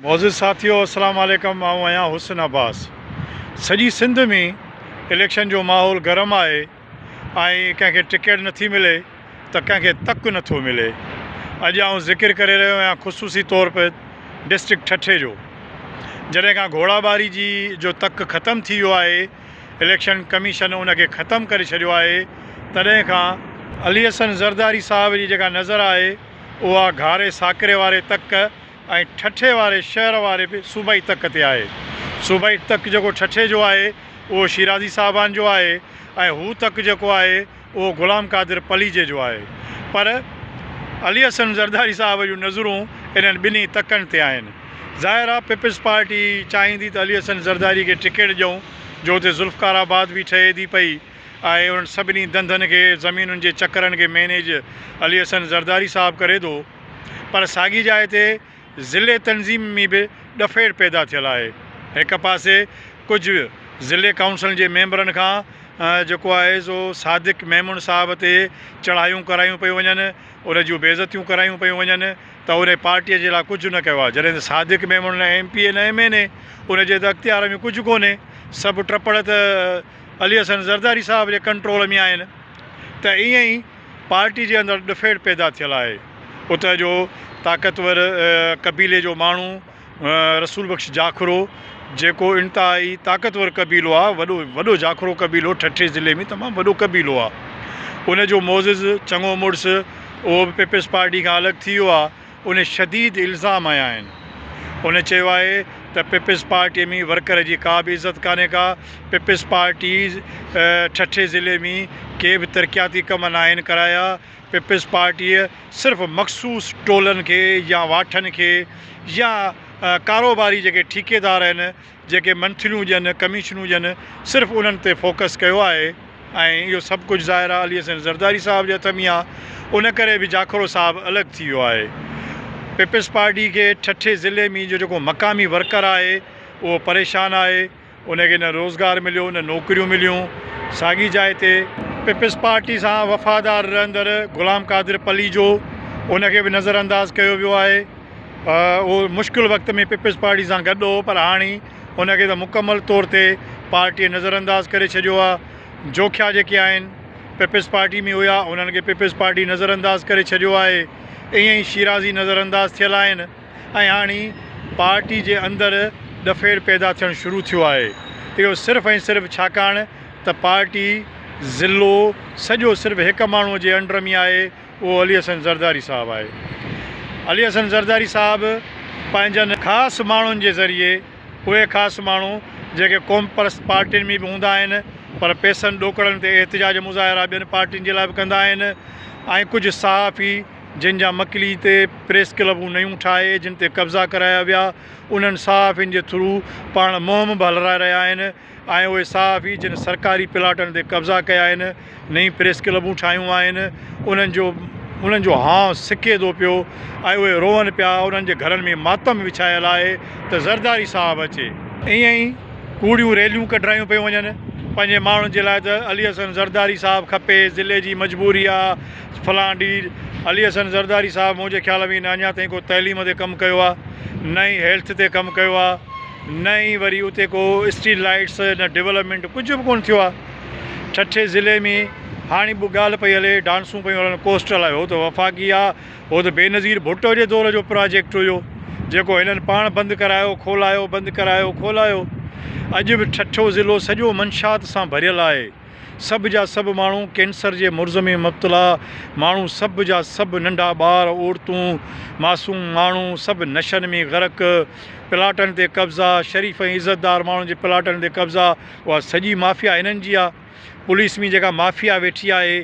معزز ساٿيو السلام عليڪم آئون آهيان حسن عباس سڄي سنڌ ۾ اليڪشن جو ماحول گرم آهي ۽ ڪنهن کي ٽڪيٽ نٿي ملي ته ڪنهن کي تڪ نٿو ملي اڄ آئون ذڪر ڪري رهيو آهيان خصوصي طور پي ڊسٽرڪٽ ٺٽي جو جڏهن کان گهوڙا ٻاري جي جو تڪ ختم ٿي ويو آهي اليڪشن ڪميشن ان کي ختم ڪري ڇڏيو آهي تڏهن کان علي حسن زرداري صاحب جي جيڪا نظر آهي اها گهاري ساڪري واري تڪ ۽ ٺٽي واري شهر واري به صوبائي تڪ تي آهي. صوبائي تڪ جيڪو ٺٽي جو آهي اهو شيرازي صاحبان جو آهي ۽ هو تڪ جيڪو آهي اهو غلام قادر پليجي جو آهي. پر علي حسن زرداري صاحب جون نظرون انهن ٻنهي تڪن تي آهن. ظاهر آهي پيپلز پارٽي چاهيندي ته علي حسن زرداري کي ٽڪيٽ ڏيئون جو اتي ذوالفقار آباد به ٺهي ٿي پئي ۽ انهن سڀني ڌنڌن کي زمينن جي چڪرن کي مينيج علي حسن زرداري صاحب ڪري ٿو. پر ساڳي جاء تي ضلعي تنظيم ۾ به ڏڦيڙ پيدا ٿيل آهي. هڪ پاسي ڪجهه ضلعي ڪائونسلن جي ميمبرن کان جيڪو آهي سو صادق ميمڻ صاحب تي چڙهايون ڪرايون پيون وڃن، ان جون بي عزتيون ڪرايون پيون وڃن ته ان پارٽيء جي لاء ڪجهه نه ڪيو آهي. جڏهن ته صادق ميمڻ نه ايم پي اي نه ايم اين اي، ان جي ته اختيار ۾ ڪجهه ڪونهي، سڀ ٽپڙ ته علي حسن زرداري صاحب جي ڪنٽرول ۾ آهن ته ائين ئي پارٽي جي اندر ڏڦيڙ پيدا ٿيل آهي، اتهه جو طاقتور قبيلي جو ماڻهو رسول بخش جاکرو جيڪو انتهائي طاقتور قبيلو آهي وڏو وڏو جاکرو قبيلو ٺٽي ضلعي ۾ تمام وڏو قبيلو آهي ان جو معزز چڱو مڙس اهو به پيپلز پارٽي کان الڳ ٿي ويو آهي ان شديد الزام هنيا آهن. هن چيو آهي ته پيپلز پارٽي ۾ ورڪر جي ڪا به عزت ڪانهي ڪا، پيپلز پارٽي ٺٽي ضلعي ۾ ڪي به ترقياتي ڪم ناهن ڪرايا، پيپلز پارٽيء صرف مخصوص ٽولن کي يا واٺن کي يا ڪاروباري جيڪي ٺيڪيدار آهن، جيڪي منٿليون هجن، ڪميشنون هجن، صرف انهن تي فوڪس ڪيو آهي ۽ اهو سڀ ڪجهه ظاهر آ علي حسين زرداري صاحب جي هٿ ۾ آ، ان ڪري به جاکوڙو صاحب الڳ ٿي ويو آهي. پيپلز پارٽي کي ٺٽي ضلعي ۾ جو جيڪو مقامي ورڪر آهي اهو پريشان آهي، ان کي نه روزگار مليو نه نوڪريون مليون، ساڳي جاء تي، پيپلز پارٽي سان وفادار رهندڙ غلام قادر پليجو ان کي به نظرانداز ڪيو ويو آهي، اهو مشڪل وقت ۾ پيپلز پارٽي سان گڏ هو پر هاڻي ان کي ته مڪمل طور تي پارٽيء نظر انداز ڪري ڇڏيو آهي، جوکيا جيڪي آهن پيپلز پارٽي ۾ هيا انهن کي پيپلز پارٽي نظر انداز ڪري ڇڏيو آهي، ائين ئي شيرازي نظر انداز ٿيل آهن ۽ هاڻي پارٽي جي اندر ڏڦيڙ پيدا ٿيڻ شروع ٿيو آهي، اهو صرف ۽ صرف ڇاڪاڻ ته پارٽي ضلعو سڄو صرف هڪ ماڻهوء جي انڊر ۾ آهي، اهو علي حسن زرداري صاحب آهي. علي حسن زرداري صاحب پنهنجن خاص ماڻهن جي ذريعي اهي خاص ماڻهو جيڪي قومپرست پارٽين ۾ به هوندا آهن پر پيسن ڏوڪڙن تي احتجاج مظاهرا ٻين پارٽين جي لاء به ڪندا آهن ۽ ڪجهه صحافي جن جا مڪلي تي پريس ڪلبون نيون ٺاهي جن تي قبضا ڪرايا ويا انهن صحافين جي ٿرو پاڻ مهم به هلرائي رهيا آهن. آهن اهي صحافي جن سرڪاري پلاٽن تي قبضا ڪيا آهن نئين پريس ڪلبون ٺاهيون آهن انهن جو انهن جو هانء سڪي ٿو پيو ۽ اهي روئن پيا انهن جي گهرن ۾ ماتم وڇايل آهي ته زرداري صاحب اچي ائين ئي ڪوڙيون ريليون ڪڍرايون پيون وڃن پنهنجي ماڻهن جي لاء ته علي حسن زرداري صاحب کپي ضلعي جي مجبوري آ فلان ڊير علي حسن زرداري صاحب منهنجي خيال ۾ نه اڃا تائين ڪو تعليم تي ڪم ڪيو آ نه ئي هيلٿ تي ڪم ڪيو آ نه ئي وري اتي ڪو اسٽريٽ لائيٽس نه ڊولپمينٽ ڪجهه به ڪونه ٿيو آ ٺٽي ضلعي ۾ هاڻي به ڳالهه پئي هلي ڊانسون پيون هلن ڪوسٽل آهي هو ته وفاقي آ هو ته بينظير ڀٽو جي دور جو پراجيڪٽ هيو جيڪو هنن پاڻ بند ڪرايو کولايو بند ڪرايو کولايو اڄ به ٺٽو ضلعو سڄو منشات سان ڀريل آهي سڀ جا سڀ ماڻهو ڪينسر جي مرض ۾ مبتلا ماڻهو سڀ جا سڀ ننڍا ٻار عورتون معصوم ماڻهو سڀ نشن ۾ غرق پلاٽن تي قبضا شريف ۽ عزت دار ماڻهن جي پلاٽن تي قبضا اها سڄي مافيا هنن جي آ پوليس ۾ جيڪا مافيا ويٺي آهي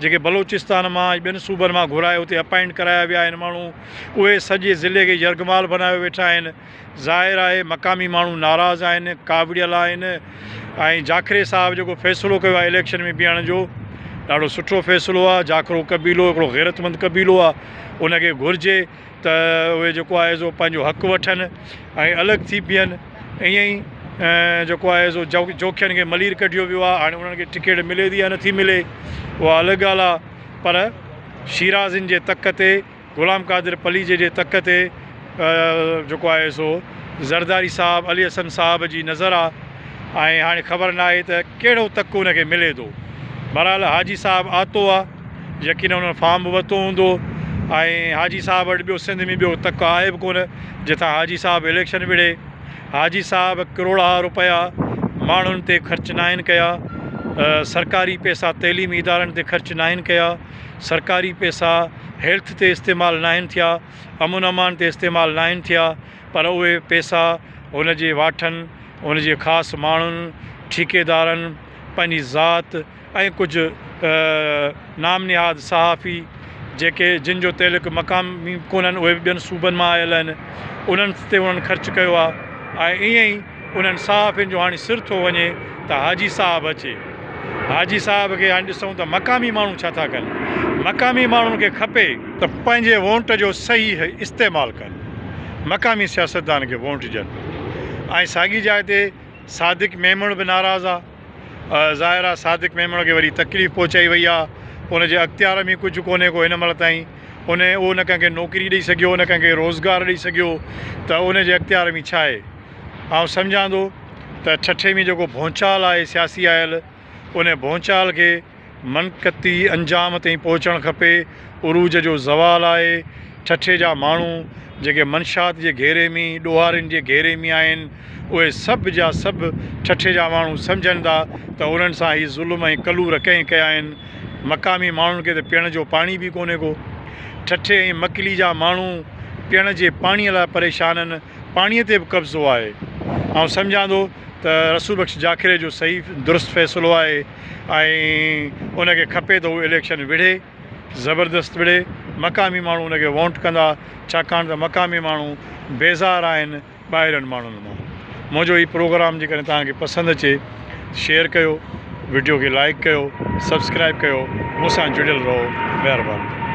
جيڪي بلوچستان مان ۽ ٻين صوبن مان گهرائي اتي اپائنٽ ڪرايا ويا آهن ماڻهو اهي سڄي ضلعي کي يرغمال بنايو ويٺا آهن. ظاهر آهي مقامي ماڻهو ناراض آهن، ڪاوڙيل آهن ۽ جاکري صاحب جيڪو فيصلو ڪيو آهي اليڪشن ۾ بيهڻ جو ڏاڍو سٺو فيصلو آهي، جاکرو قبيلو هڪڙو غيرتمند قبيلو آهي ان کي گهرجي ته اهي جيڪو آهي سو پنهنجو حق وٺن ۽ الڳ ٿي بيهن ائين ئي جيڪو آهي سو جوکين کي ملير ڪڍيو ويو آهي هاڻي انهن کي ٽڪيٽ ملي ٿي يا نٿي ملي اها الڳ ڳالهه آهي پر شيرازين جي تڪ تي غلام قادر پليجي جي تڪ تي جيڪو آهي سو زرداري صاحب علي حسن صاحب جي نظر آ ۽ هاڻي خبر ناهي ته ڪهڙو تڪ ان کي ملي ٿو بهرحال حاجي صاحب آتو آ يقينن انهن فارم به ورتو هوندو ۽ حاجي صاحب وٽ ٻيو سنڌ ۾ ٻيو تڪ آهي به ڪونه جتان حاجي صاحب اليڪشن وڙهي حاجي صاحب ڪروڙها روپيا ماڻهن تي خرچ ناهن ڪيا سرڪاري پيسا تعليمي ادارن تي خرچ ناهن ڪيا سرڪاري پئسا هيلٿ تي استعمال ناهن ٿيا، امن امان تي استعمال ناهن ٿيا پر اهي پئسا هن جي واٺن، هن جي خاص ماڻهن، ٺيڪيدارن، پنهنجي ذات ۽ ڪجهه نام نهاد صحافي جيڪي جن جو تعلق مقامي ڪونهن اهي به ٻين صوبن مان آيل آهن انهن تي انهن خرچ ڪيو آهي ۽ ائين ئي انهن صحافين جو هاڻي سر ٿو وڃي ته حاجي صاحب اچي. حاجي صاحب کي هاڻي ڏسون ته مقامي ماڻهو ڇا ٿا ڪن. مقامي ماڻهن کي کپي. ته پنهنجي وونٽ جو صحيح استعمال ڪن. مقامي سياستدان کي وونٽ ڏين. ۽ ساڳي جاء تي صادق ميمڻ به ناراض آ. ظاهر آ صادق ميمڻ کي وڏي تڪليف پهچائي وئي آ. ان جي اختيار ۾ ڪجهه ڪونهي ڪو هن مهل تائين. ان اهو نه ڪنهن کي نوڪري ڏئي سگهيو نه ڪنهن کي روزگار ڏئي سگهيو ته ان جي اختيار ۾ ڇا آهي. آئون سمجهان ٿو ته ٺٽي ۾ جيڪو ڀونچال آهي سياسي آيل ان ڀونچال کي منقطي انجام تائين پهچڻ کپي عروج جو زوال آهي ٺٽي جا ماڻهو جيڪي منشات جي گهيري ۾ ڏوهارين جي گهيري ۾ آهن اهي سڀ جا سڀ ٺٽي جا ماڻهو سمجهن ٿا ته انهن سان هي ظلم ۽ ڪلور ڪنهن ڪيا آهن مقامي ماڻهن کي ته پيئڻ جو پاڻي به ڪونهي ڪو ٺٽي ۽ مڪلي جا ماڻهو پيئڻ جي پاڻي لاء پريشان آهن پاڻيء تي به قبضو آهي. آئون سمجهان ٿو ته رسول بخش جاکيڙي جو صحيح درست فيصلو آهي ۽ ان کي کپي ته هو اليڪشن وڙهي، زبردست وڙهي، مقامي ماڻهو ان کي وونٽ ڪندا، ڇاڪاڻ ته مقامي ماڻهو بيزار آهن ٻاهرين ماڻهن مان. منهنجو هي پروگرام جيڪڏهن توهان کي پسند اچي ته شيئر ڪيو، وڊيو کي لائيڪ ڪيو، سبسڪرائيب ڪيو، مون سان جڙيل رهو. مهرباني.